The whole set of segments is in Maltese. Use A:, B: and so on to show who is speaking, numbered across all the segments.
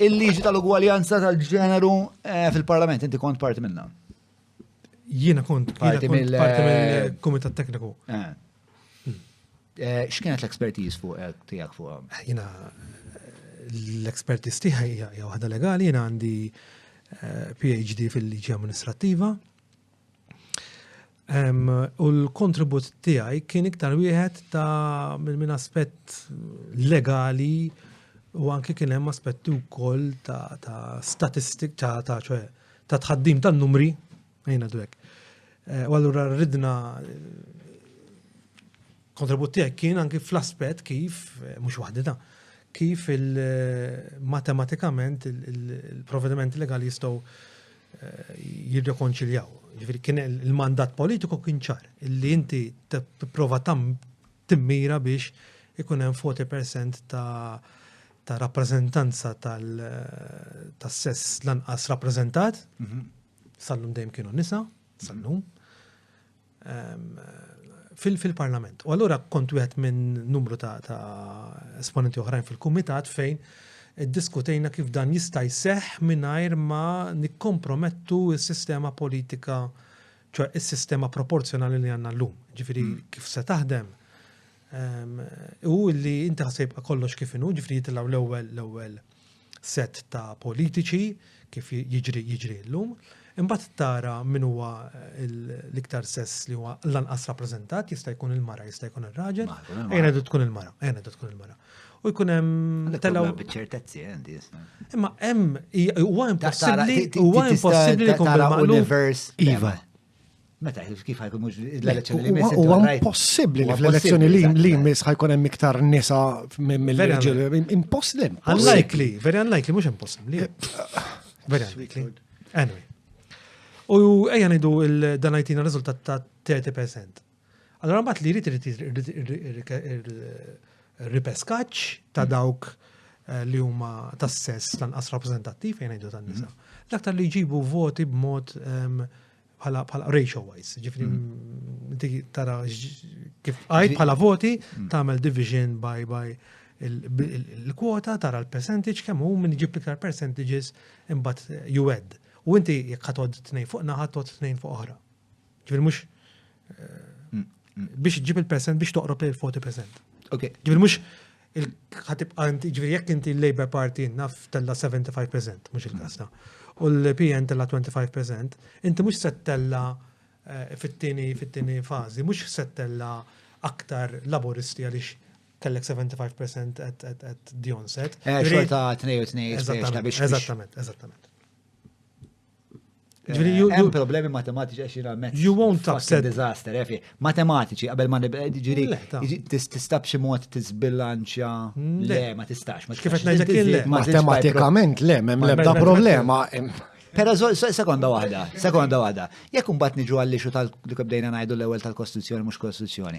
A: Il-liġi tal-ugwaljanza tal-ġeneru eh, fil-parlament, inti kont parti minna.
B: Jiena kont parti mill-Kumitat eh, Tekniku. Eh. Hmm.
A: X'kienet l-ekspertiż fuq tiegħek fuq? Jiena
B: l-ekspertiż tiegħi hija waħda legali, jiena għandi PhD fil-liġi amministrattiva. U l-kontribut tiegħi kien iktar wieħed ta' minn aspett legali u anke kien hemm aspetti wkoll ta', ta statistik ta' ta' ċoħe ta' tħaddim ta' numri ħajna dwek. Eh, u allura ridna kontribut tiegħek kien anke fl-aspett kif eh, mhux waħdita kif il-matematikament eh, il-provvedimenti legali jistgħu jirrekonċiljaw. Ġifieri kien il-mandat politiku kien ċar li inti tipprova tam timmira biex ikun hemm 40% ta' ta' rappreżentanza tal-sess lanqas rappreżentat, mhm. sal-lum dejjem kienu nisa, sal-lum. fil-parlament. U allura kont wieħed minn numru ta' esponenti oħrajn fil-kumitat fejn diskutejna kif dan jista' jseħ mingħajr ma nikkompromettu s-sistema politika, ċoħ is-sistema proporzjonali li għandna llum. Ġifieri hmm. kif se taħdem. Ehm, u li inti ħasib kollox kif inhu, ġifieri jitilgħu l-ewwel l-ewwel sett ta' politiċi kif jiġri jiġri llum, imbagħad tara min huwa l-iktar sess li huwa l-anqas rappreżentat, jista' jkun il-mara, jista' jkun ir-raġel, ejna du tkun il-mara, ejna du tkun il-mara. U jkun hemm telgħu. Biċċertezzi għandi.
A: Imma hemm
B: huwa impossibbli huwa impossibbli li jkun bil-maqlub. Iva.
A: Meta, kif ħajkun mux l-elezzjoni li jmiss? U għan possibli
C: li fl-elezzjoni li jmiss ħajkun hemm iktar nisa mill-reġil. Impossibli. Unlikely, very
B: unlikely, mux impossibli. Very unlikely. Anyway. U ejja nidu dan għajtina rizultat ta' 30%. Allora mbagħad li jrid ripeskaċ ta' dawk eh, li huma tas-sess lanqas rappreżentattiv fejn ngħidu tan-nisa. Mhm. L-aktar li jġibu voti b'mod ehm, bħala bħala ratio wise, ġifri mm. dik tara kif għajt bħala voti mm. tagħmel division by by il-kwota tara l-percentage kemm hu minn ġib iktar percentages imbagħad juwed. U inti jekk ħatod tnejn fuq naħa tod tnejn fuq oħra. Ġifri mhux mm, biex ġib il-percent biex toqrob il-40%. Ok. Ġifri mhux il-ħatibqa inti, ġviri jekk inti l-Labour Party naf tella 75%, mux il-kasta, u l-PN tella 25%, inti mux settella eh, fit-tini, fit-tini fazi, mux settella aktar laboristi għalix kellek 75% at the onset. Eh, xorta 2 u
A: 2 biex. Eżattament,
B: eżattament.
A: Ġviri, eh, hemm problemi matematiċi għax jina mezz. You won't upset. Disaster,
B: efi. Eh,
A: matematiċi, qabel ma nibqa, eh, ġviri, tistab xi mod tisbilanċja. Mm, le, ma tistax. Kif qed ngħidlek le.
B: Matematikament le,
C: m'hemm l-ebda problema. Pero
A: sekonda waħda, sekonda waħda. Jekk imbagħad niġu għall-ixu tal-li bdejna ngħidu l-ewwel tal-Kostituzzjoni mhux Kostituzzjoni.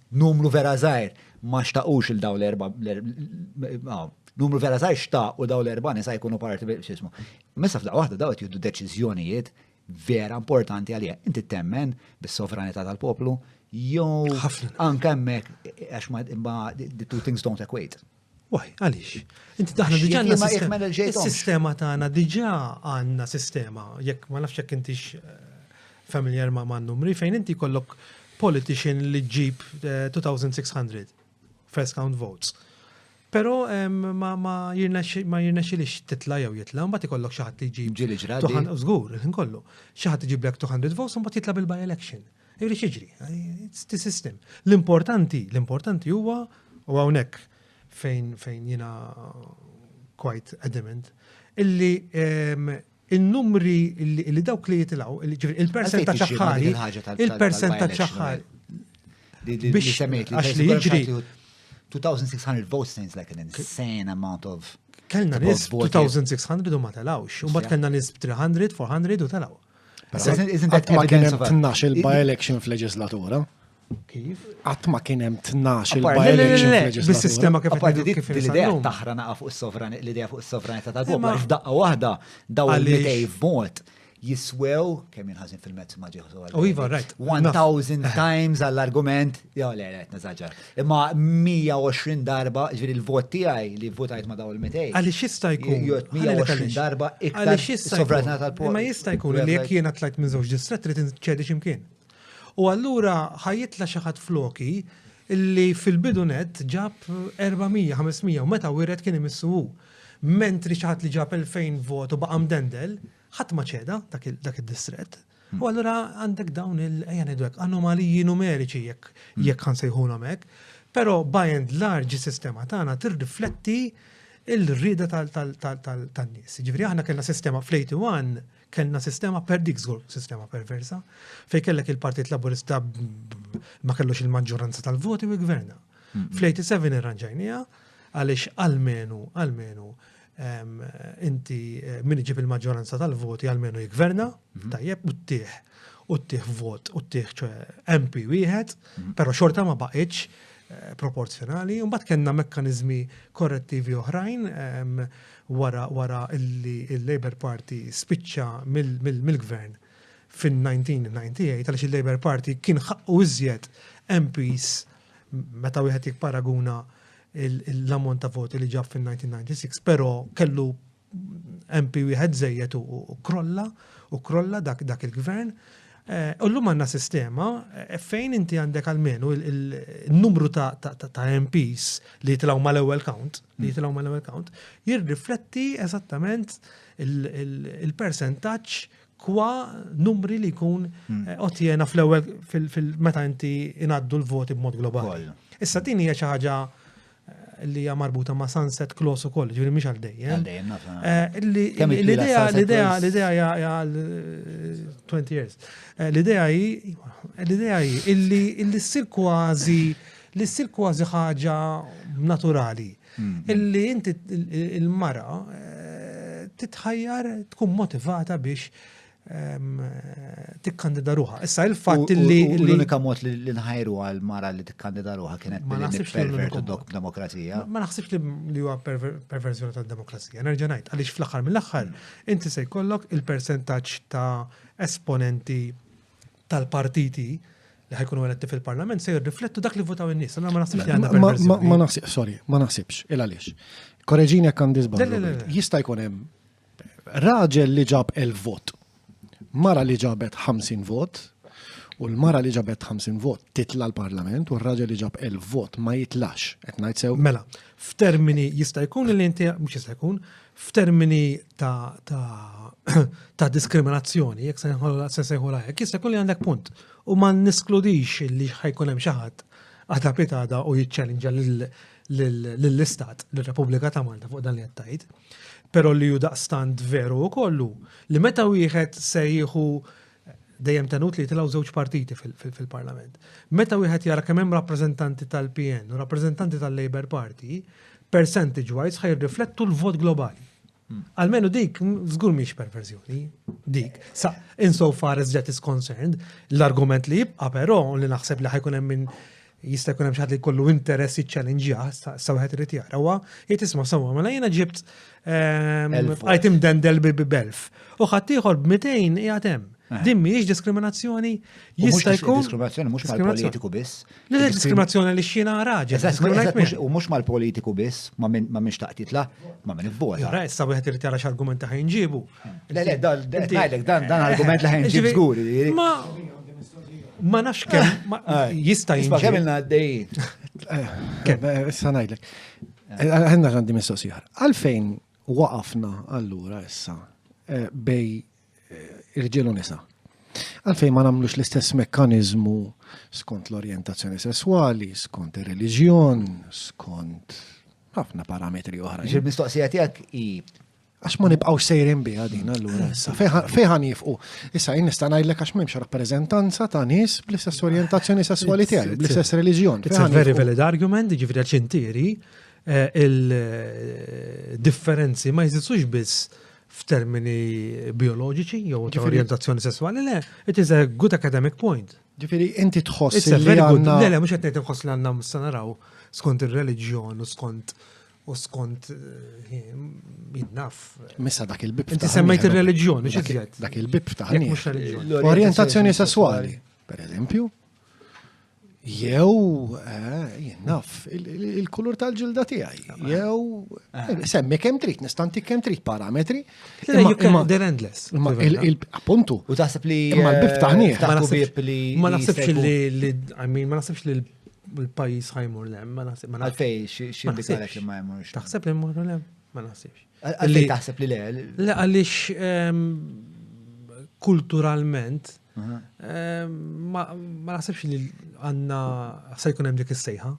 A: Numru vera żgħir ma xtaqux il-daw l-erba' numru vera saj xtaq u daw l-erba nisa jkunu parti b'xismu. Messa f'daq waħda daw qed jiddu deċiżjonijiet vera importanti għalija. Inti temmen bis-sovranità tal-poplu jew anke hemmhekk għax ma the two things don't equate. Waj, għaliex?
B: Inti daħna diġà għandna sistema. Is-sistema tagħna diġà għandna sistema, jekk ma nafx jekk intix eh, familjar ma' man numri, fejn inti kollok politician li ġib 2600 eh, first count votes. Pero ma jirnexilix titla jew jitla, mbagħad ikollok xi ħadd li ġib. Ġili ġradi. Żgur, kollu. Xi ħadd iġiblek 200 votes, mbagħad jitla bil-by election. Irrid jiġri, it's the system. L-importanti, l-importanti huwa u hawnhekk fejn fejn jiena quite adamant illi ehm, il-numri li dawk li jitilaw, il-percent ta' ċaħħari, il-percent ta' ċaħħari.
A: Biex semmejt li li jiġri. 2600 votes seems like an insane amount of. Kellna
B: nis 2600 u ma telawx, u bat kellna nis 300, 400 u telaw. Għatma
C: kien hemm tnax il-by-election f'leġislatura. Kif?
B: Għatma kien hemm
C: tnax il-by-election f'leġislatura.
B: Bis-sistema kif kif l-idea taħra
A: naqa fuq is-sovranità, l-idea fuq is-sovranità tal-poplu, għax daqqa waħda daw il-idej vot jiswew, kemm jinħazin fil-mezz ma ġieħu. U iva, right.
B: 1000
A: times għall-argument Jo, le, le, nazaġa. Imma 120 darba, ġviri l-vot tijaj li votajt ma daw il-metej. Għalli xista jkun? Jo,
B: 120 darba
A: iktar sovranità tal-poplu. Ma jista jkun li jek
B: jena tlajt minn zoċ distret li tinċedi ximkien. U għallura ħajitla xaħat floki li fil-bidunet ġab 400-500 u meta wiret kien imissu Mentri xaħat li ġab 2000 vot u baqam dendel, Ħadd ma ċeda dak id-distrett. Hmm. U allura għandek dawn il-ejja ngħidlek anomaliji numeriċi jekk hmm. jekk ħansejħulhom hekk. Però by and large is-sistema tagħna tirrifletti il-rida tal-nies. Ġifieri aħna kellna sistema fl-81 kellna sistema per dik żgur sistema perversa fej kellek il-Partit Laburista ma kellux il-maġġoranza tal-voti u gverna. Hmm. Fl-87 irranġajnija għaliex għalmenu għalmenu inti min iġib il-maġġoranza tal-voti għalmenu jikverna, mhm. tajjeb u ttieħ u ttieħ vot u ttieħ ċe MP wieħed, mhm. però xorta ma baqitx eh, proporzjonali, un bat kena mekkanizmi korrettivi oħrajn wara wara illi il-Labour Party spiċċa mill-gvern fin-1998 għaliex il-Labour Party kien ħaqqu iżjed MPs meta wieħed jikparaguna l-ammont ta' voti li ġab fil-1996, pero kellu MP wieħed zejjed u krolla, u krolla dak, dak il-gvern. Eh, u l-lum għanna sistema eh, fejn inti għandek għalmenu il-numru ta', ta, ta, ta MPs li jitlaw mal ewwel count, li jitlaw mal ewwel count, jirrifletti eżattament il-percentaċ Kwa numri li jkun eh, otjena fl-ewwel fil-meta inti inaddu l-voti b'mod globali. Issa din hija xi ħaġa eh, li hija marbuta ma' sunset clause ukoll, ġifieri mhix għal dejjem. Eh, l-idea l-idea l-idea hija għal 20 years. L-idea hi l-idea hi illi ssir kważi li ssir kważi ħaġa naturali. Illi inti il-mara eh, titħajjar tkun motivata biex ehm, tikkandida ruħa. Issa il-fatt li. L-unika mod li
A: nħajru għal mara li tikkandida ruħa kienet ma naħsibx pervertu dok demokrazija. Ma naħsibx
B: li huwa perversjoni tal-demokrazija. Nerġa' ngħid għaliex fl-aħħar mill-aħħar inti se jkollok il-persentaġġ ta' esponenti tal-partiti li ħajkunu eletti fil-parlament se jirriflettu dak li votaw in-nies. Allora ma naħsibx li għandha perversjoni. Ma naħsib, sorry, ma naħsibx, il għaliex. Koreġini jekk għandi żball. Jista' jkun hemm raġel li ġab el vot, mara li ġabet 50 vot, u l-mara li ġabet 50 vot titla l-parlament u r-raġel li ġab el vot ma jitlax, qed ngħid sew. Mela, f'termini jista' jkun li inti mhux jista' jkun, f'termini ta' diskriminazzjoni, jekk se nsejħu hekk, jista' jkun li għandek punt. U ma niskludix li ħajkun hemm xi ħadd għadha pitada u jiċċellinġa lill-Istat, lill-Repubblika ta' Malta fuq dan li qed tgħid. Però li hu daqstant veru kollu li meta wieħed se jieħu dejjem tenut li jitilgħu żewġ partiti fil-Parlament. Meta wieħed jara kemm hemm rappreżentanti tal-PN u rappreżentanti tal-Labour Party, percentage wise ħaj riflettu l-vot globali. Hmm. Almenu dik, żgur miex perverżjoni, dik. Sa, insofar as that is concerned, l-argument li jibqa' però li naħseb li ħajkun hemm minn jista' jkun hemm xi ħadd li jkollu interess jiċċallenġjah, sa wieħed irid jara huwa jgħid isma' sewwa mela jiena ġibt item dendel bi belf. U ħadd ieħor b'200 qiegħed hemm. Din mhijiex diskriminazzjoni jista' jkun. Diskriminazzjoni mhux mal-politiku
A: biss. Le diskriminazzjoni
B: li xina raġel. U mhux mal-politiku
A: biss, ma minn xtaqt jitla, ma minn ibbota. Issa wieħed irid jara
B: x'argumenti ħajnġibu.
A: Le, le, dan, dan, dan argument li ħen ġib zgur. Ma,
B: ma nafx kem, ah, jista jisba. Kem il għaddej.
A: Kem,
C: eh, issa najdlek. Eh, Għanna għandi mistoqsijar. Għalfejn waqafna allura issa eh, bej irġilu nisa? Għalfejn ma namlux l-istess mekkanizmu skont l-orientazzjoni sessuali, skont il-reġjon, skont ħafna parametri oħra. Ġil-mistoqsija tijak i
A: Għax ma
C: nibqgħux sejrin biha din allura issa fejħan jifqu. Issa jien nista' ngħidlek għax m'hemmx rappreżentanza ta' nies bl-istess orjentazzjoni
B: sesswali
C: tiegħi,
B: bl-istess reliġjon. It's
C: a
B: very valid
C: argument,
B: jiġifieri
C: għax
B: intieri eh, il-differenzi eh, ma jżidux biss f'termini bioloġiċi jew ta' orientazzjoni sessuali, le, it is a good academic point. Ġifiri, inti tħoss
C: li għanna. Le,
B: le, mux għetnejt nħoss li għanna mustanaraw skont il-reġjon u skont U skont, eh, jinnaf. Missa dak
C: il-bib. Inti semmejt il-reliġjoni,
B: ġizjet. Dak il-bib ta' Orientazzjoni
C: sessuali, per eżempju. Jew, eh, jinnaf, il-kulur tal-ġilda tiegħi. Jew, eh. semmi kem trit, nistanti kem trit parametri. They're
B: endless. Appuntu.
C: U taħseb li.
A: Ma l-bib ta'
C: Ma
B: naħsebx li, ma naħsebx li il-pajis ħajmur lem, ma naħseb. Ma Għalfej, xindikalek li
A: ma jmurx. Taħseb li jmur lem,
B: ma naħsibx. Għalfej taħseb li
A: le? Le, għalix
B: ehm, kulturalment, ehm, ma naħsebx li għanna se jkun hemm dik is-sejħa.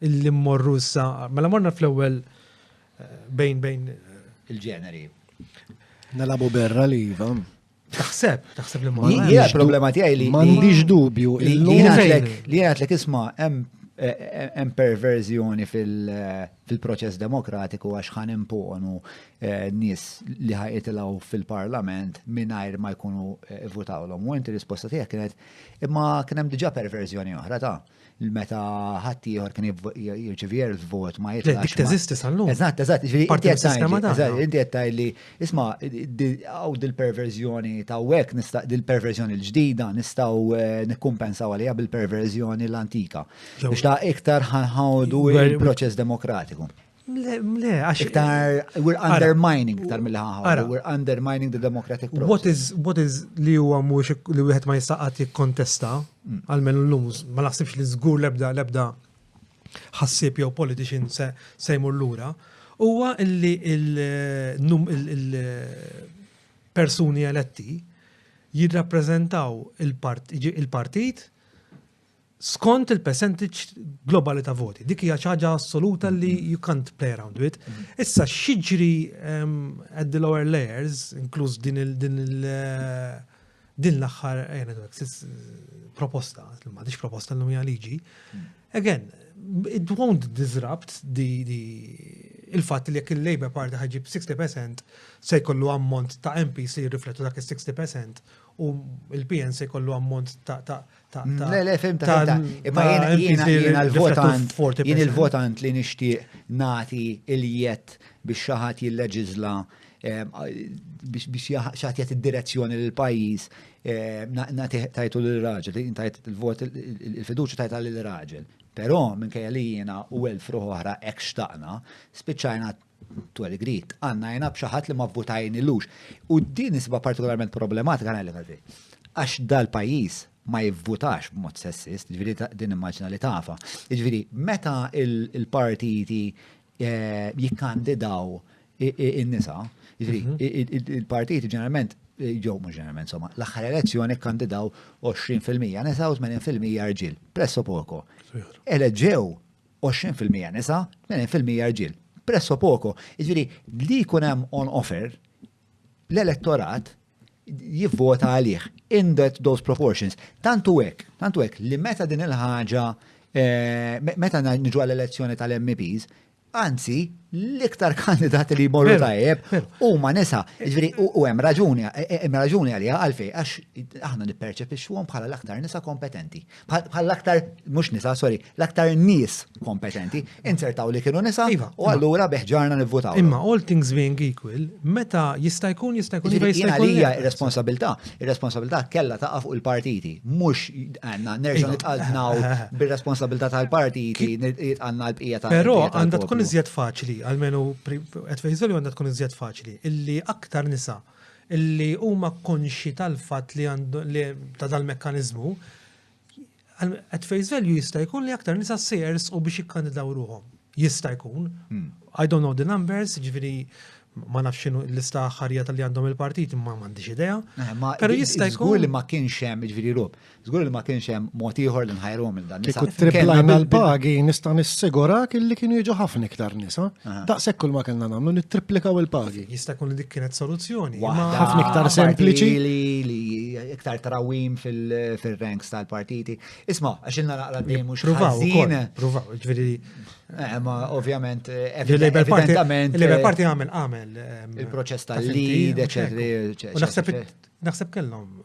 B: Illi mmorru issa, mela morna fl-ewwel eh, bejn bejn eh,
A: il-ġeneri.
C: Nalabu berra li jiva. Taħseb,
B: taħseb li ma. Jgħal problema tiegħi li.
A: M'għandix dubju. Li jgħatlek isma' hemm eh, eh, hemm perverżjoni eh, fil-proċess demokratiku għax ħan imponu nies li ħajqitilaw fil-parlament mingħajr ma jkunu votawlhom. U inti risposta tiegħek kienet imma kien hemm diġà perverżjoni oħra ta' meta ħadd ieħor kien jirċivi erf vot ma jitlax. Dik teżisti sal-lum. Eżatt,
B: eżatt,
A: inti qed li isma' hawn dil-perverżjoni ta' hekk nista' dil-perverżjoni l-ġdida nistgħu eh, nikkumpensaw għaliha bil-perverżjoni l-antika. Biex ta' iktar ħawdu il-proċess demokratiku. Le,
B: għax. Iktar, we're
A: undermining, iktar mill ħaħar we're undermining the democratic process. What is, what is li huwa
B: mhux li wieħed ma jistaqat jikkontesta, mm. għalmen l-lum, ma naħsibx li żgur lebda lebda ħassib jew politician se sejmur lura, huwa li il-persuni eletti jirrappreżentaw il-partit skont il-percentage globali ta' voti. Dik hija ċaġa assoluta li mm-hmm. you can't play around with. Mm-hmm. Issa xiġri um, at the lower layers, inkluż din il din il eh, din l-aħħar eh, proposta, ma dix proposta l-lum liġi. Mm. Again, it won't disrupt the, the il-fatt li jekk il-Labour Party ħagġib 60% se jkollu ammont ta' MP se jirriflettu dak il-60% u il-PN se jkollu ammont ta' Le, le, fim
A: ta' ta' imma jiena l-votant, jien il-votant li nixtieq nati il-jett biex xaħat jilleġizla eh, biex xaħat jett id-direzzjoni l-pajis eh, nati tajtu l-raġel, tajt il-vot il-fiduċa tajta l-raġel. Pero minn kajja li jiena u elf ruħ oħra ekx taqna, spiċajna to a degree, tqannajna b'xi ħadd li ma vvutajnilux. U din isba partikolarment problematika ngħidlek għalfej. Għax dal-pajjiż ma jivvutax b'mod sessist, ġifieri din immaġna li tafa. Ġifieri meta il-partiti eh, jikkandidaw in-nisa, ġifieri mhm. il-partiti ġeneralment eh, ġew mhux ġeneralment insomma, l-aħħar elezzjoni kkandidaw 20% nisa u 80% rġiel, presso poco. Eleġew 20 fil-mija nisa, 80 fil-mija rġiel. Presso poco, jiġifieri li jkun hemm on offer, l-elettorat jivvota għalih in that those proportions. Tantu hekk, tantu hekk li meta din il-ħaġa eh, meta niġu għall-elezzjoni tal-MPs, Anzi, l-iktar kandidati li jmorru tajjeb u ma nisa, ġviri u hemm raġuni, eh, eh, hemm raġuni għalija għalfej, għax aħna nipperċepixxuhom bħala l-aktar nisa kompetenti. bħall-aktar, mux nisa, sorry, l-aktar nis kompetenti, insertaw li kienu nisa, iva, u għallura beħġarna nivvutaw. Imma all things being
B: equal, meta jista' jkun jista' jkun jista' jkun. Għalija
A: ir-responsabilità, ir-responsabilità kella ta' fuq il-partiti, mux għanna nerġa' iva. nitqadnaw bir-responsabilità tal-partiti, għanna l-bqija ta' Però għandha tkun iżjed
B: faċli, għalmenu qed fejżoli għandha tkun iżjed faċli, illi aktar nisa li huma konxji tal-fatt li ta' dal-mekkaniżmu, at face value jista' jkun li aktar nisa se jersqu biex jikkandidaw ruhom. Jista' jkun. Hmm. I don't know the numbers, ġifieri ma nafx xinu l-lista ħarija tal-li għandhom il-partit, ma mandiġ idea. Eh, Pero jista' jkun. li ma kienx hemm
A: ġifieri rob. Żgur li ma kienx hemm mod ieħor li nħajruhom il dan nisa. Kieku triplajna
C: l-pagi nista' nissigurak illi kienu jiġu ħafna iktar nisa. Daqshekk kull ma kellna nagħmlu nittriplikaw il-pagi.
B: Jista' jkun
C: li dik kienet soluzzjoni. Ħafna iktar
B: sempliċi. Li iktar
A: trawim fil-ranks tal-partiti. Isma', għax ilna naqra dejjem mhux ħażin. Provaw, ġifieri.
B: Eh, ma
A: ovvjament, eh, evidentament. Il-Labour Party eh, għamel
B: għamel. Il-proċess
A: tal-lead, eċetera.
B: Naħseb kellhom